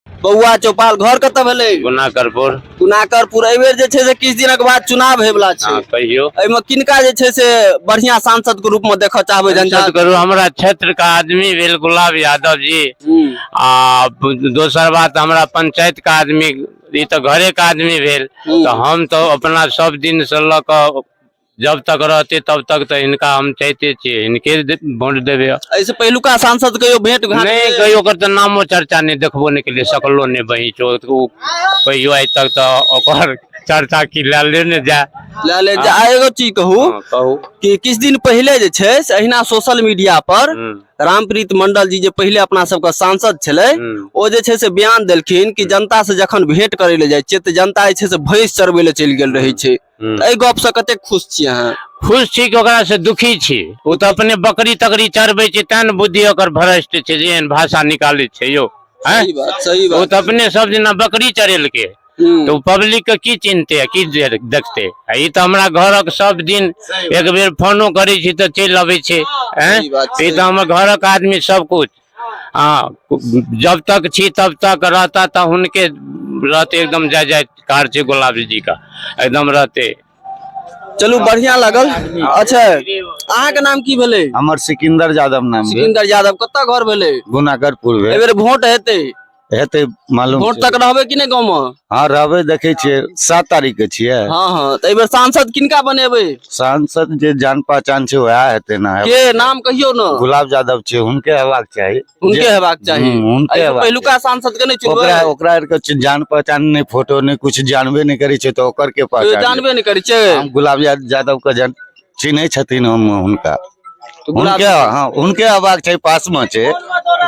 बौआ चौपाल घर कतऽ भेलै गुना करपुर गुनाकरपुर एहि बेर जे छै से किछु दिनक बाद चुनाव होय वला छै हँ कहियो एहिमे किनका जे छै से बढ़िया सांसद के रूप में देखऽ चाहबै जनता संसद करू हमरा क्षेत्र का आदमी भेल गुलाब यादव जी हम्म, आ दोसर बात हमरा पंचायत का आदमी ई तो घरे का आदमी भेल हम्म। तो हम तो अपना सब दिन से लऽ कऽ जब तक रहते तब तक तो इनका हम चाहते छे इनके वोट देवे ऐसे पहलुका सांसद कहियो भेंट घाट नहीं कहियो कर तो नामो चर्चा नहीं देखबो नहीं के लिए सकलो नहीं बही चो तो कहियो आज तक तो चर्चा की लाले ने जा लाले जा हाँ। एगो चीज कहू हाँ, कहू कि किस दिन पहले जे छे से अहिना सोशल मीडिया पर हम्म। रामप्रीत मंडल जी जे पहले अपना सब का सांसद छले हम्म। ओ जे छे से बयान देलखिन कि हम्म। जनता से जखन भेंट करे ले जाय छे त जनता जे छे से भैंस चरबे ले चल गेल रही छे एहि गप से कते खुश छी अहाँ खुश छी कि ओकरा से दुखी छी ओ तऽ अपने बकरी तकरी चढ़बै छै तें ने बुद्धि ओकर भ्रष्ट छै जे एहन भाषा निकालै छै यौ हैं? सही बात सही ओ बात तऽ अपने सब दिना बकरी चढ़ेलकै हम्म, तऽ ओ पब्लिक के की चिन्हते आ की दे- देखते आ ई तऽ हमरा घरक सब दिन एक बेर फोनो करै छी तऽ चलि अबै छै हैं? सही बात, ई तऽ हमर घरक आदमी सब कुछ हाँ जब तक छी तब तक रहता तो उनके रहते एकदम जय जय कार छे गुलाब जी का एकदम रहते चलू बढ़िया लागल अच्छा अहाँ के नाम की भेले हमर सिकंदर यादव नाम भेल सिकंदर यादव कतऽ घर भेले गुनाकरपुर भेल एहि बेर वोट हेतै हेतै मालूम वोट छै। तक रहबै कि नहि गाँव में हाँ रहबै देखै छियै सात तारीख के छियै हाँ हाँ तो एहि बेर सांसद किनका बनेबै सांसद जे जान पहचान छै वएह हेतै ना के नाम कहियो ने गुलाब यादव छै हुनके हेबाक चाही हुनके जे- हेबाक चाही हम्म, हुनके एहि हेबाक पहिलुका सांसद के नहि चाही। ओकरा चुनबै ओकरा आर के छै जान पहचान नहि फोटो नहि कुछ जानबे नहि करै छै तऽ ओकर के तो पहचान लेत? जानबे नहि करै छै हम गुलाब या- यादव के जन चिन्है छथिन हम हुनका तो गुलाब हुनके हाँ हुनके हेबाक छै पास में छै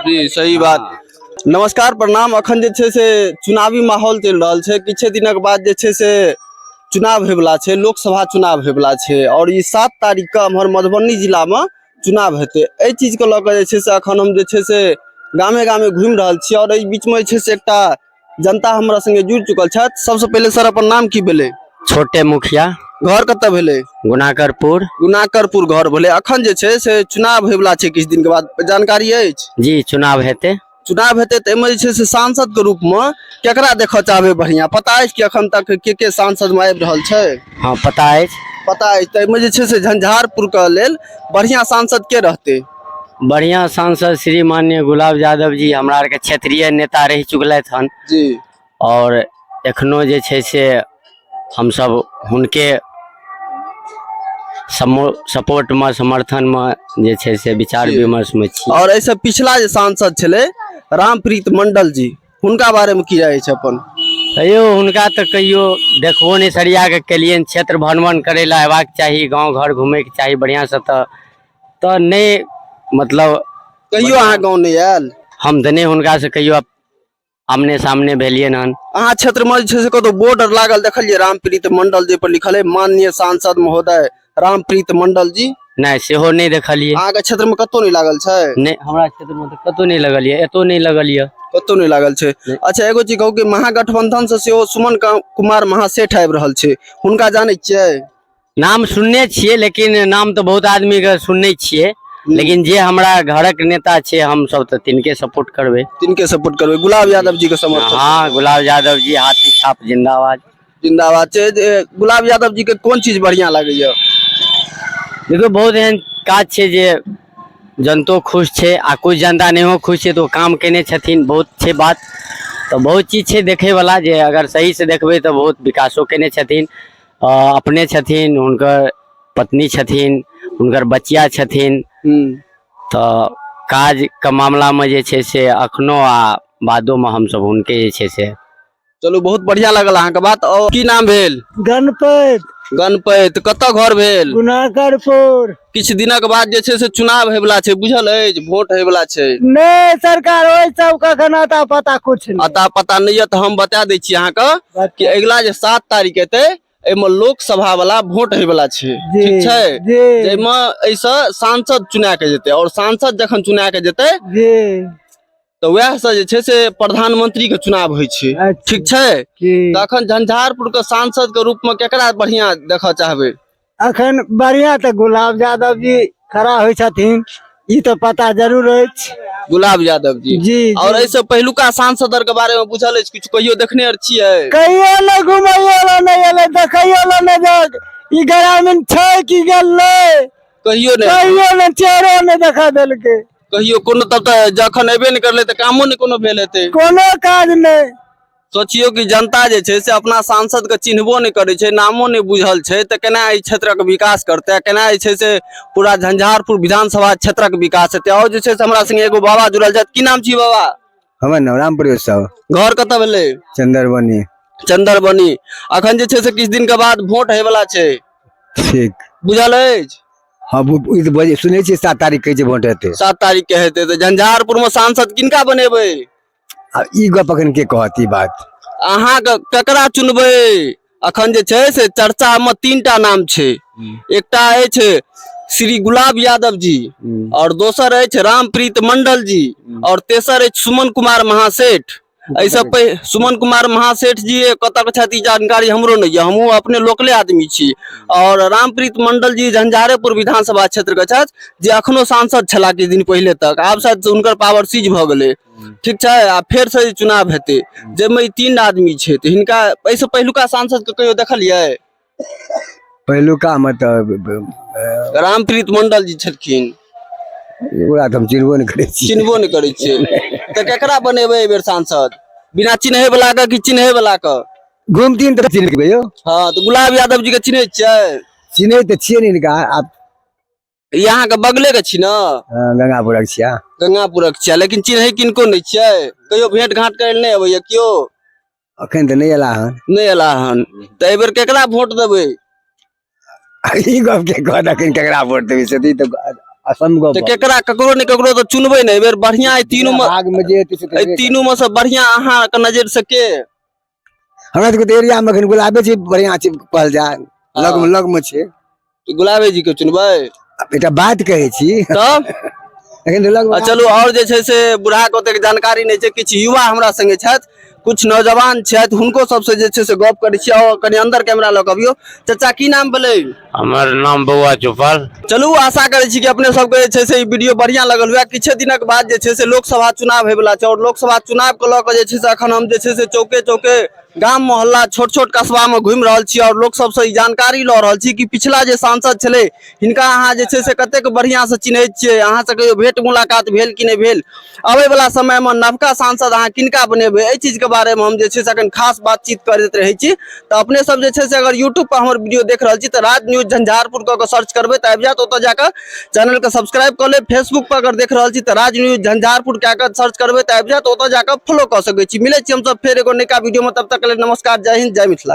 जी सही बात नमस्कार प्रणाम अखन जे छै से चुनावी माहौल चलि रहल छै किछे दिनक बाद जे छै से चुनाव होयवला छै लोकसभा चुनाव होयवला छै आओर ई सात तारीखके एम्हर मधुबनी जिलामे चुनाव हेतै एहि चीजके लऽ कऽ जे छै से एखन हम जे छै से गामे गामे घुमि रहल छी आओर एहि बीचमे जे छै से एकटा जनता हमरा संगे जुड़ चुकल छथि सबसे पहिले सर अपन नाम की भेलै छोटे मुखिया घर कतऽ भेलै गुनाकरपुर गुनाकरपुर घर भेलै अखन जे छै से चुनाव होयवला छै किछु दिनके बाद जानकारी अछि जी चुनाव हेतै चुनाव हेतै तऽ एहिमे जे छै से सांसदके रूपमे केकरा देखऽ चाहबै बढ़िआँ पता अछि कि अखन तक के के सांसदमे आबि रहल छै हँ पता अछि पता अछि तऽ एहिमे जे छै से झंझारपुरके लेल बढ़िआँ सांसद के रहतै बढ़िया सांसद श्री मान्य गुलाब यादव जी हमरा आरके क्षेत्रीय नेता रहि चुकलथि हन जी और एखनो जे छै से हमसब हुनके सपोर्ट में समर्थन में जे छै से विचार जी। विमर्श में छी और ऐसे पिछला जे सांसद छले रामप्रीत मंडल जी हुनका बारे में की राय छै अपन तैयो हुनका तऽ कहियो देखबो नहि सरिया के केलियनि क्षेत्र भ्रमण करै लए अयबाक चाही गाँव घर घूमैके चाही बढ़िआँसँ तऽ तऽ नहि मतलब कहियो अहाँ गाँव नहि आयल हम तऽ नहि हुनकासँ कहियो आमने सामने भेलियनि हन अहाँ क्षेत्र में जे छै से कतौ बोर्ड लागल देखलियै रामप्रीत मंडल जे पर लिखल है माननीय सांसद महोदय रामप्रीत मंडल जी नहि सेहो नहि देखलियै अहाँके क्षेत्र में कतौ नहि लागल छै नहि हमरा क्षेत्र में तऽ कतौ नहि लगल यऽ एतौ नहि लगल यऽ कतौ नहि लागल छै अच्छा एगो चीज कहू कि महागठबंधन से सेहो सुमन का- कुमार महासेठ आबि रहल छै हुनका जानै छियै नाम सुनने छियै लेकिन नाम तऽ बहुत आदमी के सुनने छियै लेकिन जे हमरा घरक नेता छै हम सब तऽ तिनके सपोर्ट करबै तिनके सपोर्ट करबै गुलाब यादव जी के समर्थन हाँ गुलाब यादव जी हाथी छाप जिंदाबाद जिंदाबाद छै जे गुलाब यादव जी के कोन चीज बढ़िया लागैया देखियौ बहुत एहन काज छै जे जनतो खुश छै आ कुछ जनता नहियो खुश छै तऽ ओ काम केने छथिन बहुत छै बात तऽ बहुत चीज छै देखैवला जे अगर सहीसँ देखबै तऽ बहुत विकासो केने छथिन अपने छथिन हुनकर पत्नी छथिन हुनकर बचिया छथिन तऽ काज के मामला में जे छै से अखनो आ बादो में हम सब हुनके जे छै से चलू बहुत बढ़िया लगल अहाँके बात और की नाम भेल गणपत गणपत कतऽ घर भेल गुनाकरपुर किछु दिनक बाद जे छै से चुनाव होयवला छै बुझल अछि वोट होयवला छै नहि सरकार ओहि सब कखन अता पता कुछ नहि अता पता नहि यऽ तऽ हम बता दै छी अहाँके कि अगिला जे सात तारीख एतै एहिमे लोकसभा वाला वोट होयवला छै जी, ठीक छै जी। जाहिमे एहिसँ सांसद चुना के जेतै और सांसद जखन चुना के जेतै जी तऽ वएह से जे छै से प्रधानमंत्री के चुनाव होइ छै अच्छा। ठीक छै जी तखन झंझारपुर के सांसद के रूप में केकरा बढ़िया देखऽ चाहबै अखन बढ़िया तऽ गुलाब यादव जी खड़ा होइ छथिन ई तऽ पता जरूर अछि गुलाब यादव जी जी और जी। ऐसे पहिलुका सांसद आर के बारे में बुझल अछि कुछ कहियो देखने आर छियै कहियो ने घुमैयो ला नहि एलै देखैयो ला नहि देख ई ग्रामीण छै कि गेलै कहियो ने कहियो ने चेहरो नहि देखा देलकै कहियो कोनो तब तऽ जखन एबे ने करले तऽ कामो ने कोनो भेल हेतै कोनो काज नहि सोचियौ कि जनता जे छै से अपना सांसदके चिन्हबो नहि करै छै नामो नहि बुझल छै तऽ केना एहि क्षेत्रक विकास करतै केना जे छै से पूरा झंझारपुर विधानसभा क्षेत्रक विकास हेतै आओर जे छै से हमरा संगे एगो बाबा जुड़ल छथि की नाम छी बाबा हमर नाम राम प्रवेश साहु घर कतऽ भेलै चंदरबनी चंदरबनी अखन जे छै से किछु दिनके बाद वोट होयवला छै ठीक बुझल अछि हम ई तऽ बजे सुनै छियै सात तारीख कहै छै वोट हेतै सात तारीख के हेतै तऽ झंझारपुर मे सांसद किनका बनेबै आ ई गप अखन के कहत ई बात अहाँ के ककरा चुनबै अखन जे छै से चर्चा मे तीन टा नाम छै एकटा अछि श्री गुलाब यादव जी हम्म, और दोसर अछि रामप्रीत मंडल जी और तेसर अछि सुमन कुमार महासेठ एहि सब पे सुमन कुमार महासेठ जी कतऽ के छथि ई जानकारी हमरो नहि यऽ हमहूँ अपने लोकले आदमी छी और रामप्रीत मंडल जी झंझारेपुर विधानसभा क्षेत्र के छथि जे अखनो सांसद छलाह किछु दिन पहिले तक आब शायद हुनकर पावर सीज भऽ गेलै ठीक छै आ फेर से चुनाव हेतै जाहिमे ई तीन आदमी छै तऽ हिनका एहिसँ पहिलुका सांसद के कहियो देखलियै पहिलुकामे तऽ रामप्रीत मंडल जी छलखिन ओकरा तऽ हम चिन्हबो नहि करै छी चिन्हबो नहि करै छियै तऽ केकरा बनेबै एहि बेर सांसद बिना चिन्है बला के कि चिन्है बला के घुमथिन तऽ चिन्ह लेबै यौ हँ तऽ गुलाब यादव जी के चिन्है छियै चिन्है तऽ छियै ने हिनका आब ई अहाँके बगले के छी ने हँ, गंगापुरक छियै गंगापुरक छियै लेकिन चिन्है किनको नहि छियै कहियो भेंट घाट करै लए नहि अबैया केओ अखन तऽ नहि एला हन नहि एला हन तऽ एहि बेर केकरा वोट देबै ई गप के कहत अखन केकरा वोट देबै से ई तऽ असम गप तऽ केकरा ककरो ने ककरो तऽ चुनबै ने एहि बेर बढ़िया एहि तीनू मे भाग में जे हेतै से तऽ एहि हेबे तीनू मे से बढ़िया अहाँके नजर से के हमरा सबके तऽ एरियामे एखन गुलाबे छै बढ़िआँ छै कहल जाय लगमे लगमे छै तो गुलाबे जी के चुनबै आब एकटा बात कहै छी तब एखन तऽ आ लगमे चलू आओर जे छै से बुढ़ाक ओतेक जानकारी नहि छै किछु युवा हमरा संगे छथि किछु नौजवान छथि हुनको सबसँ जे छै से गप करै छी आओर कनि अंदर कैमरा लऽ कऽ अबियौ चाचा की नाम भेलै हमर नाम बौआ चौपाल चलू आशा करै छी कि अपने सबके जे छै से ई वीडियो बढ़िया लगल हुए किछे दिनक बाद जे छै से लोकसभा चुनाव होयवला छै आओर लोकसभा चुनाव के लऽ कऽ जे छै से अखन हम जे छै से चौके चौके गाम मोहल्ला छोट छोट कस्बा में घूमि रहल छी आओर लोक सबसँ ई जानकारी लऽ रहल छी कि पिछला जे सांसद छलै हिनका अहाँ जे छै से कतेक बढ़िआँसँ चिन्हैत छियै अहाँसँ कहियो भेंट मुलाकात भेल कि नहि भेल आबय वला समय मे नवका सांसद अहाँ किनका बनेबै एहि चीज के बारे मे हम जे छै से अखन खास बातचीत करैत रहै छी तऽ अपने सब जे छै से अगर यूट्यूब पर हमर वीडियो देख रहल छी तऽ राज न्यूज झंझारपुर कऽ के सर्च करबै तऽ आबि जायत ओतऽ जाकऽ चैनल के सब्सक्राइब कऽ लेब फेसबुक पर अगर देख रहल छी तऽ राज न्यूज झंझारपुर कए कऽ सर्च करबै तऽ आबि जायत ओतऽ जाकऽ फॉलो कऽ सकै छी मिलै छी हमसब फेर एगो नयका वीडियो मे तब तक के लेल नमस्कार जय हिंद जय मिथिला